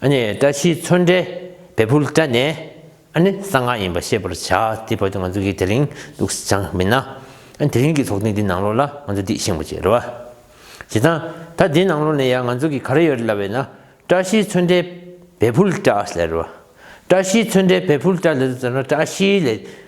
བཀྲ་ཤིས་མཚོན་འདྲའི་བལ་ཕུལ་བཀྲ་ནས། གསང་སྔགས་ཡིན་པ་ཤེས་པར་བྱ། དེ་བར་དུ་ང་ཚོ་གིས་དེ་རིང་ལུགས་སྲིད་སྦྱངས་མིན་ན། དེ་རིང་གི་ཚོགས་ཐེངས་འདི་ནང་ལོགས་ལ་ང་ཚོ་འདི་ཤེས་མགོ་བྱེད་རོགས། བྱེད་སྟངས་ད་འདི་ནང་ལོགས་ནས་ཡང་ང་ཚོ་གིས་ག་རེ་ཡོད་རེད་ལབ་བས་ན། བཀྲ་ཤིས་མཚོན་འདྲའི་བལ་ཕུལ་བཀྲ་ཨ་ལས་རོགས། བཀྲ་ཤིས་མཚོན་འདྲའི་བལ་ཕུལ་བཀྲ་ལས་ཚོ་ཟེར་ན་བཀྲ་ཤིས་ལས།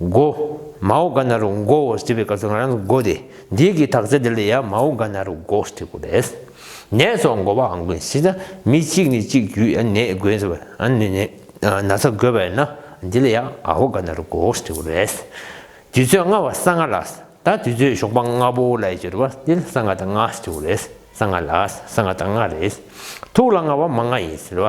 མགོ། མའོ་ག་ན་རུ་མགོ་བོ་ཟེར་བའི་སྐབས་སུ་ང་རང་ཚོ་མགོ་སྟེ་འདི་གི་དག་ཆ་འདི་ལ་ཡང་མའོ་ག་ན་རུ་མགོ་ཟེར་དགོས་རེད། ནད་སོགས་མགོ་བའང་དགོས་ཟེར་ན་མི་གཅིག་ནས་གཅིག་བརྒྱུད་ཡང་ནད་འགོས་ཟེར་བ། ན་ཚ་འགོས་པ་ཡིན་ན་འདི་ལ་ཡང་ཨའོ་ག་ན་རུ་མགོ་ཟེར་དགོས་རེད། དུས་ཚོད་ལྔ་བ་ས་ལྔ་ལ་ད་དུས་ཚོད་ཞོགས་པ་ལྔ་པོ་ལ་ཡི་ཟེར་བ་འདི་ལ་ས་ལྔ་དང་ལྔ་ཟེར་དགོས་རེད་ས་ལྔ་ལ་ས་ལྔ་དང་ལྔ་རེད། ཐུག་ལ་ལྔ་བ་མ་ལྔ་ཡིན་ཟེར་བ་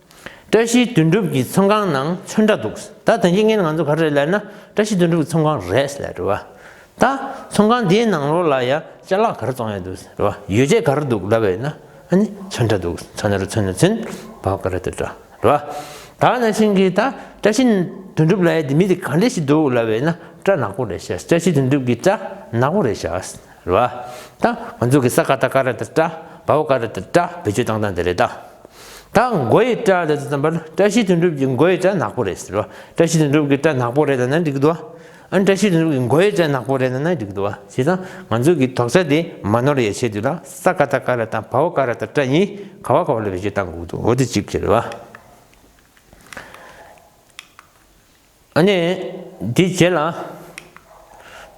བཀྲ་ཤིས་དོན་གྲུབ་ཀྱི་ཚོང་ཁང་ནང་ཚོན་འདྲ་འདུག་ད་དོན་རྐྱེན་ངན་ང་ཚོ་ག་རེ་ལས་ན་བཀྲ་ཤིས་དོན་གྲུབ་ཀྱི་ཚོང་ཁང་རེད་ཟེར་ལ་དྲི་བ། ད་ཚོང་ཁང་དེའི་ནང་ལོགས་ལ་ཡ་ཅལ་ལག་ག་རེ་བཙོང་ཡ་འདུག་ཟེར་ལ་དྲི་བ། ཡོ་བྱད་ག་རེ་འདུག་ལབ་ཡ་ན་ཨ་ནི་ཚོན་འདྲ་འདུག་ཚོན་ནོ་རེ་ཚོན་ནོ་ཚོན་བབས་ག་རེ་འདུག་དྲི་བ། ད་ན་ཤིང་གིས་ད་བཀྲ་ཤིས་དོན་གྲུབ་ལ་ཡ་དེ་མི་དེ་ག་འདྲ་ཞིག་འདུག་ལབ་ཡ་ན་སྐྲ་ནག་པོ་རེད་བྱས་བཀྲ་ཤིས་དོན་གྲུབ་ཀྱིས་སྐྲ་ནག་པོ་རེད་བྱས། རེད་ད། ང་ཚོ་གི་ས་ཀ་ད་ཀ་རེད་ད། བ་བ་ཀ་རེད་ད། བེད་སྤྱོད་བཏང་སྟངས་དེ་རེད་ད། ད་མགོ་ཡི་སྐྲ་རེད་ད་བསམ་པར་བཀྲ་ཤིས་དོན་གྲུབ་ཀྱི་མགོ་ཡི་སྐྲ་ནག་པོ་རེད། བཀྲ་ཤིས་དོན་གྲུབ་ཀྱི་སྐྲ་ནག་པོ་རེད་ད་ན་འགྲིག་འདུག་ཨ། བཀྲ་ཤིས་དོན་གྲུབ་ཀྱི་མགོ་ཡི་སྐྲ་ནག་པོ་རེད་ད་ན་འགྲིག་འདུག་ཨ་བྱས་ཙང་ང་ཚོ་གི་དོག་ཆ་དེ་མ་ནོར་ཡས་ཆེད་དུ་ལ་ས་ཀ་ད་ཀ་རེད་ད་བ་བ་ཀ་རེད་ད་སྐྲ་གཉིས་ག་བ་ག་བ་ལ་བེད་སྤྱོད་བཏང་དགོས་འདུག་འོ་དེ་གཅིག་རེད་བ། ཨ་ནི། དེའི་རྗེས་ལ།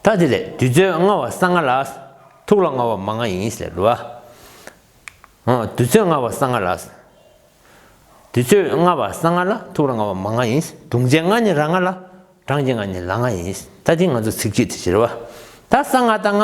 ད་དེ་ལས་དུས་ཚོད་ལྔ་བ་ས་ལྔ་ལ། ཐུགས་ལ་ལྔ་བ་མ་ལྔ་ཡིན་ཟེར་རོ། དུས་ཚོད་ལྔ་བ་ས་ལྔ་ལ། དུས་ཚོད་ལྔ་བ་ས་ལྔ་ལ་ཐུགས་ལ་ལྔ་བ་མ་ལྔ་ཡིན། དུང་ཆའི་ལྔ་ནི་ར་ལྔ་ལ། གྲངས་ཀྱི་ལྔ་ནི་ལ་ལྔ་ཡིན། ད་དེ་ང་ཚོ་ཚིག་གཅིག་ཏུ་བྱེད་རོ། ད་ས་ལྔ་ད་ལྔ།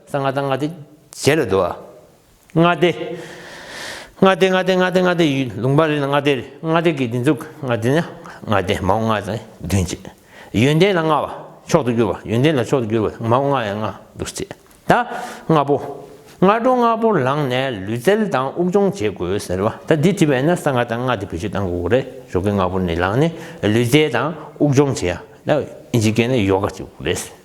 ས་ལྔ་དང་ལྔ་སྟེ་བརྒྱད་ལ་བསྡུ་བ། ལྔ་སྟེ། ལྔ་སྟེ་ལྔ་སྟེ་ལྔ་སྟེ་ལྔ་སྟེ་ལུང་པ་རེ་ལ་ལྔ་སྟེ་རེ་ལྔ་སྟེ་གི་སྡེ་འཛུགས་ལྔ་སྟེ་ན་ལྔ་སྟེ་མང་བོ་ལྔ་དང་བདུན་བཅས། ཡོན་ཏན་ལ་ལྔ་བ་མཆོག་ཏུ་གྱུར་པ་ཡོན་ཏན་ལ་མཆོག་ཏུ་གྱུར་པ་མང་བོ་ལྔ་ཡང་ལྔ་འདུ་བཅས་ད་ལྔ་པོ། སྔ་དྲོ་ལྔ་པོར་ལངས་ནས་ལུས་རྩལ་དང་དབུགས་སྦྱོང་བྱེད་དགོས་ཟེར་བ་ད་འདི་བྲིས་པས་ན་ས་ལྔ་དང་ལྔ་སྟེ་བེད་སྤྱོད་གཏང་དགོས་གོ་རེ་ཞོག་གི་ལྔ་པོ་ནས་ལངས་ནས་ལུས་རྩལ་དང་དབུགས་སྦྱོང་བྱེད་ཡ་ད་ཨིན་ཇི་སྐད་ན་ཡོ་ག་བྱེད་དགོས་རེད།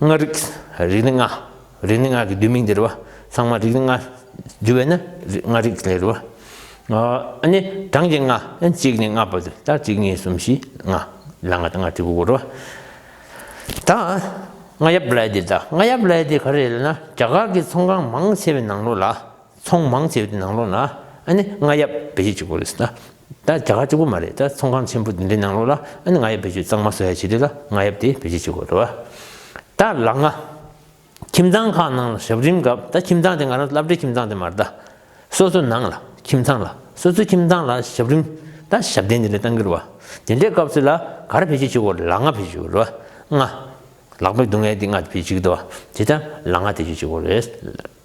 ལྔ། རིག། རིག་ནི་ལྔ། རིག་ནི་ལྔ་གི་བསྡུས་མིང་འདིར་བ། ཚང་མ་རིག་ནི་ལྔ། བསྡུས་བས་ན་ལྔ་རིག་ལས་རེད་བ། ཨ་ནི་གྲངས་ཀྱི་ལྔ། གཅིག་ནས་ལྔ་བར་དུ་ལྟར་གཅིག་གཉིས་གསུམ་བཞི་ལྔ། ལ་ལྔ་དང་ལྔ་ཁྲི་དགུ་དགུ་རེད་བ། ད་ལྔ་ཡབ་ལས་འདི་ལྟ་ལྔ་ཡབ་ལས་འདི་ག་རེ་ལས་ན་རྒྱ་གར་གྱི་ཚོང་ཁང་མང་ཆེ་བའི་ནང་ལོགས་ལ། ཚོང་མང་ཆེ་བའི་དེ་ནང་ལོགས་ན་ཨ་ནི་རྔ་ཡབ་བེད་སྤྱོད་གཅིག་པོ་རེད་ཟེར། ད་རྒྱ་གར་གཅིག་པོ་མ་རེད་ད་ཚོང་ཁང་ཆེན་པོ་འདི་འདྲའི་ནང་ལོགས་ལ་ཨ་ནི་རྔ་ཡབ་བེད་སྤྱོད་གཙང་མ་བཟོ་ཡ་བྱེད་དུས་ལ་རྔ་ཡབ་དེ་བེད་སྤྱོད་བྱེད་དགོས་རེད། ད་ལགས་ང། ཁྱིམ་ཚང་ཁག་ནང་ལ་ཞབས་རིམ་སྐབས་ད་ཁྱིམ་ཚང་དེ་ང་རང་བསླབ་གྲྭའི་ཁྱིམ་ཚང་དེ་མ་རེད་ད། སོ་སོ་ནང་ལ་ཁྱིམ་ཚང་ལ་སོ་སོའི་ཁྱིམ་ཚང་ལ་ཞབས་རིམ་ད་ཞབས་བརྟན་འདི་འདྲའི་གཏང་གི་རེད་བ། དེ་འདྲའི་སྐབས་སུ་ལ་གར་བེད་སྤྱོད་བྱེད་དགོས་རེད་ལགས་རྔ་བེད་སྤྱོད་བྱེད་དགོས་རེད་བ། རྔ། ལག་པའི་སྡུག་བསྔལ་དེ་རྔ་བེད་སྤྱོད་བྱེད་དགོས་རེད་བ། དེ་ལྟར་ལ་རྔ་བེད་སྤྱོད་བྱེད་དགོས་རེད།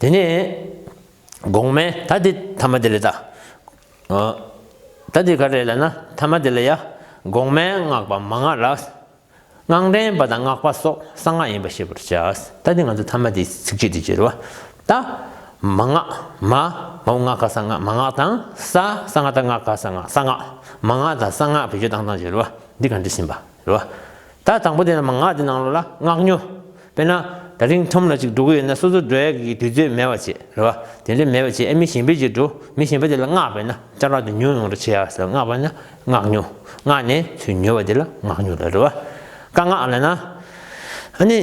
དེ་ནས་གོང་མའི་ད་དེ་ཐ་མ་དེ་ལས་ད། ད་དེ་ག་རེ་ལ་ན་ཐ་མ་དེ་ལ་ཡ། གོང་མའི་སྔགས་པ་མ་སྔགས་ལ། སྔགས་འདྲེན་པ་དང་སྔགས་པ་སོགས་གསང་སྔགས་ཡིན་པར་ཤེས་པར་བྱ། ད་དེ་ང་ཚོ་ཐ་མ་དེའི་ཚིགས་བཅད་དེ་བྱེར་བ། ད། མ་སྔགས་མ། མ་བུ་སྔགས་ཀ་གསང་སྔགས་མ་སྔགས་དང་ས། ས་སྔགས་ད་སྔགས་ཀ་གསང་སྔགས་ས་སྔགས། མ་སྔགས་དང་གསང་སྔགས་བེད་སྤྱོད་དང་དང་བྱེར་བ། འདི་ག་འདྲི་ཟིན་པ་རེད་བ། ད་དང་པོ་དེ་རྣམས་ངག་གི་ནང་ལོགས་ལ་སྔགས་ཉོ། དཔེར་ན། ད་རིང་ཁྲོམ་ལ་ཅིག་འགྲོ་གི་ཡོད་ན་སོ་སོ་འགྲོ་ཡ་གི་གི་དུས་ཚོད་མེད་བ་བྱེད་རེད་བ། དེ་འདྲ་མེད་བ་བྱེད་ཨེ་མི་གཞན་པའི་རྗེས་འགྲོ། མི་གཞན་པ་དེ་ལ་སྔགས་བས་ན་ལྕགས་ལག་དེ་ཉོ་ཡོང་རེ་བྱེད་ཡ་ཟེར་སྔགས་བས་ན་སྔགས་ཉོ། སྔགས་ནས་ཚུལ་ཉོ་བ་དེ་ལ་སྔགས་ཉོ་རེད་རེད་བ། བཀའ་སྔགས་ལས་ན། ཨ་ནི།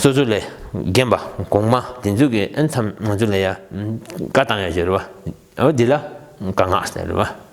སོ་སོ་ལས་རྒན་པ་གོང་མ་དེ་ཚོས་གི་ཨེ་མཚམས་ང་ཚོ་ལ་ཡ། བཀའ་བཏང་ཡ་ཞེས་རེད་བ། འོ་དེ་ལ་བཀའ་སྔགས་ཟེར་རེད་བ།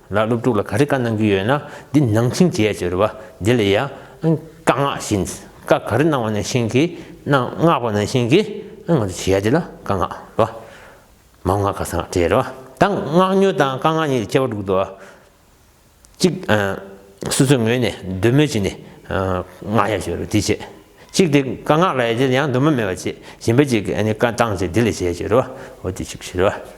ལ་སློབ་ཕྲུག་ལ་ག་རེ་བཀའ་གནང་རྒྱུ་ཡོད་ན་འདི་གནང་ཆིངས་བྱས་ཟེར་བ་འདི་ལ་ཡང་བཀའ་མངགས་བཞིན་བཀའ་ག་རེ་གནང་བ་ནང་བཞིན་གྱི་མངགས་པ་ནང་བཞིན་གྱི་ང་ཚོ་བྱས་དེ་ལ་བཀའ་མངགས་རེད་བ། མ་མངགས་ཁ་སང་བྲེལ་རེད་བ་ད་མངགས་ཉོ་དང་བཀའ་མངགས་གཉིས་ཀྱི་ཁྱད་པར་འདུག་དོ། གཅིག་སོ་སོའི་ངོས་ནས་འདོད་མོས་བྱས་ནས་མངགས་ཡ་ཞུ་རེད་དེ་བྱས། གཅིག་དེ་བཀའ་མངགས་ལ་ཡང་འདོད་མོས་མེད་པ་བྱས་གཞན་པ་གཅིག་གིས་བཀའ་བཏང་བྱས་འདི་ལ་བྱས་ཟེར་བ་འོ་དེ་གཅིག་ཞུ་རེད་བ།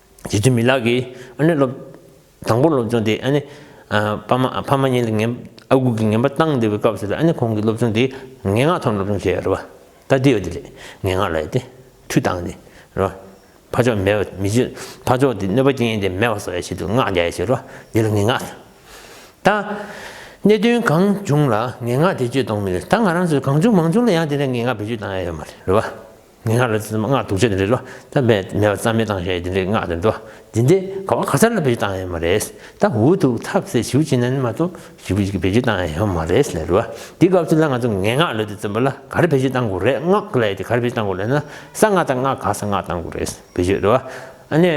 རྗེ་བཙུན་མི་ལག་གིས་ཨ་ནེ་སློབ། དང་པོར་སློབ་སྦྱོང་དེ་ཨ་ནེ། ཕ་མ་ཕ་མ་གཉིས་ལ་ངན། ཨ་ཁུ་གིས་ངན་པ་བཏང་བསྡད་པའི་སྐབས་སུ་ཨ་ནེ་ཁོང་གིས་སློབ་སྦྱོང་དེ་ངན་སྔགས་ཐོག་ནས་སློབ་སྦྱོང་བྱས་རེད་བ། ད་ལྟའི་བ་དེ་རེད་ངན་སྔགས་ལ་ཡ་སྟེ་ཐུགས་བཏང་སྟེ་རེད་བ། ཕ་ཆོག་མེད་བ་མི་བྱེད། ཕ་ཆོག་དེ་གནོད་པ་སྐྱེན་ཡིན་ཏེ་མེད་བ་སོགས་ཡ་བྱེད་དུ་སྔགས་རྒྱ་ཡ་བྱེད་རེད་བ་འདི་ལ་ངན་སྔགས་ཟེར། ད། གནད་དོན་གང་བྱུང་ལ་ངན་སྔགས་དེ་བཅོས་གཏོང་མི་རེད་ད་ང་རང་ཚོས་གང་བྱུང་མང་བྱུང་ལ་ཡང་དེ་འདྲའི་ངན་སྔགས་བེད་སྤྱོད་བཏང་ཡ་ཡོད་མ་རེད་བ། ངན་སྔགས་ལས་སྔགས་དུག་ཆོས་དེ་འདྲས་ལོ། ད་མེ་ཏོག་རྩ་མེད་བཏང་ཞེས་དེ་འདྲས་སྔགས་དེ་འགྲོ། དེ་འདྲས་ག་བ་ག་ཚར་ལ་བེད་སྤྱོད་བཏང་ཡོད་མ་རེད། ད་འུ་ཐུག་ཐབས་ཟད་ཞུ་བྱེད་ན་ནི་མ་གཏོགས་ཞུ་བེད་སྤྱོད་བཏང་ཡོད་མ་རེད་ཟེར་བ། དེ་སྐབས་ཚུན་ལ་ང་ཚོ་ངན་སྔགས་ལས་དེ་བརྩོན་པ་ལ་ག་རེ་བེད་སྤྱོད་བཏང་དགོས་རེད་སྔགས་ལས་དེ་ག་རེ་བེད་སྤྱོད་བཏང་དགོས་ལེ་ན་གསང་སྔགས་དང་སྔགས་ག་ས་སྔགས་བཏང་དགོས་རེད་བེད་སྤྱོད་རེད་བ། ཨ་ནེ།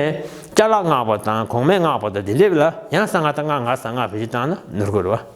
ལྕགས་ལག་སྔགས་པ་དང་གོང་མའི་སྔགས་པ་དང་དེ་འདྲས་བེད་ལ་ཡང་གསང་སྔགས་དང་སྔགས་ག་ས་སྔགས་བེད་སྤྱོད་བཏང་ན་ནོར་དགོས་རེད་བ།